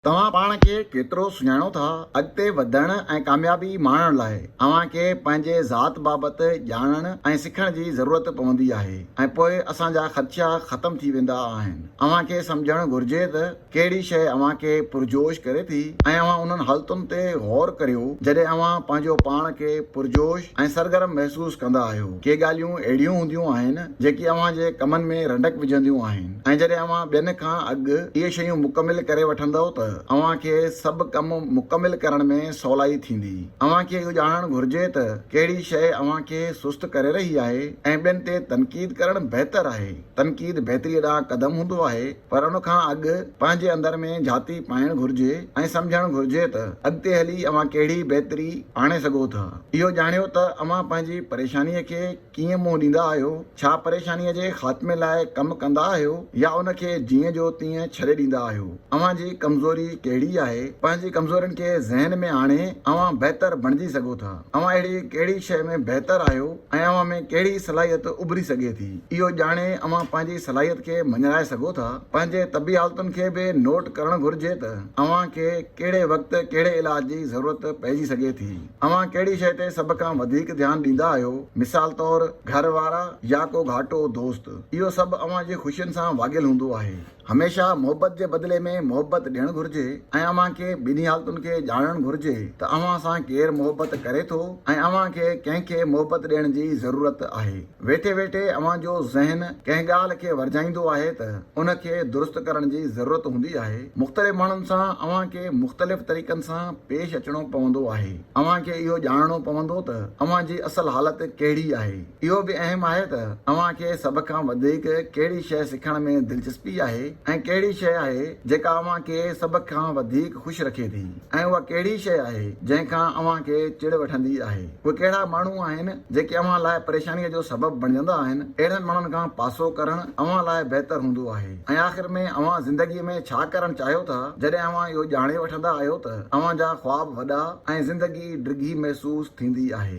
توهان پاڻ کي ڪيترو سڃاڻو ٿا؟ اڳتي وڌڻ ۽ ڪاميابي ماڻڻ لاء اوهان کي پنهنجي ذات بابت ڄاڻڻ ۽ سکڻ جي ضرورت پوندي آهي ۽ پوء اسان جا خدشا ختم ٿي ويندا آهن. اوهان کي سمجهڻ گهرجي ته ڪهڙي شيء اوهان کي پرجوش ڪري ٿي ۽ اوهان انهن حالتن تي غور ڪريو جڏهن اوهان پنهنجو پاڻ کي پرجوش ۽ سرگرم محسوس ڪندا آهيو. ڪي ڳالهيون اهڙيون هونديون آهن جيڪي اوهان جي ڪمن ۾ رنڊڪ وجهنديون آهن. ۽ جڏهن اوهان ٻين کان اڳ اهي شيون مڪمل ڪري وٺندؤ ته اوهان کي سڀ ڪم مڪمل ڪرڻ ۾ سولائي ٿيندي. اوهان کي اهو ڄاڻڻ گهرجي ته ڪهڙي شيء اوهان کي سست ڪري رهي آهي ۽ ٻين تي تنقيد ڪرڻ بهتر آهي. تنقيد بهتريء ڏانهن قدم هوندو آهي، پر ان کان اڳ پنهنجي اندر ۾ جهاتي پائڻ گهرجي ۽ سمجهڻ گهرجي ته اڳتي هلي اوهان ڪهڙي بهتري آڻي سگهو ٿا. اهو ڄاڻيو ته اوهان پنهنجي پريشانيء کي ڪيئن منهن ڏيندا آهيو؟ ڇا پريشانيء جي خاتمي لاء ڪم ڪندا آهيو يا ان کي جيئن جو تيئن ڇڏي ڏيندا آهيو؟ اوهان جي ڪمزوري ڪهڙي آهي؟ پنهنجي ڪمزورين کي ذهن ۾ آڻي اوهان بهتر بڻجي سگهو ٿا. اوهان اهڙي ڪهڙي شيء ۾ بهتر آهيو ۽ اوهان ۾ ڪهڙي صلاحيت اڀري سگهي ٿي، اهو ڄاڻي اوهان پنهنجي صلاحيت کي مڃرائي سگهو ٿا. پنهنجي طبي حالتن کي به نوٽ ڪرڻ گهرجي ته اوهان کي ڪهڙي وقت ڪهڙي علاج جي ضرورت پئجي سگهي ٿي. اوهان ڪهڙي شيء تي سڀ کان وڌيڪ ڌيان ڏيندا آهيو؟ مثال طور گهر وارا يا ڪو گهاٽو دوست؟ اهو سڀ اوهان جي خوشين سان واڳيل هوندو آهي. هميشه محبت جي بدلي ۾ محبت ڏيڻ گهرجي ۽ اوهان کي ٻنهي حالتن کي ڄاڻڻ گهرجي ته اوهان سان ڪير محبت ڪري ٿو ۽ اوهان کي ڪنهن کي محبت ڏيڻ جي ضرورت آهي. ويٺي ويٺي اوهان جو ذهن ڪنهن ڳالهه کي ورجائيندو آهي ته ان کي درست ڪرڻ جي ضرورت هوندي آهي. مختلف ماڻهن سان اوهان کي مختلف طريقن سان پيش اچڻو پوندو آهي. اوهان کي اهو ڄاڻڻو پوندو ته اوهان جي اصل حالت ڪهڙي آهي. اهو به اهم آهي ته اوهان کي سڀ کان وڌيڪ ڪهڙي شيء سکڻ ۾ دلچسپي آهي ۽ ڪهڙي شيء آهي جيڪا اوهان کي سڀ کان وڌيڪ خوش رکي ٿي. ۽ اها ڪهڙي شيء آهي، جنهن کان اوهان کي چڙ وٺندي آهي؟ اهي ڪهڙا ماڻهو آهن، جيڪي اوهان لاء پريشانيء جو سبب بڻجندا آهن؟ اهڙن ماڻهن کان پاسو ڪرڻ اوهان لاء بهتر هوندو آهي. ۽ آخر ۾ اوهان زندگيء ۾ ڇا ڪرڻ چاهيو ٿا، جڏهن اوهان اهو ڄاڻي وٺندا آهيو ته اوهان جا خواب وڏا ۽ زندگي ڊگهي محسوس ٿيندي آهي.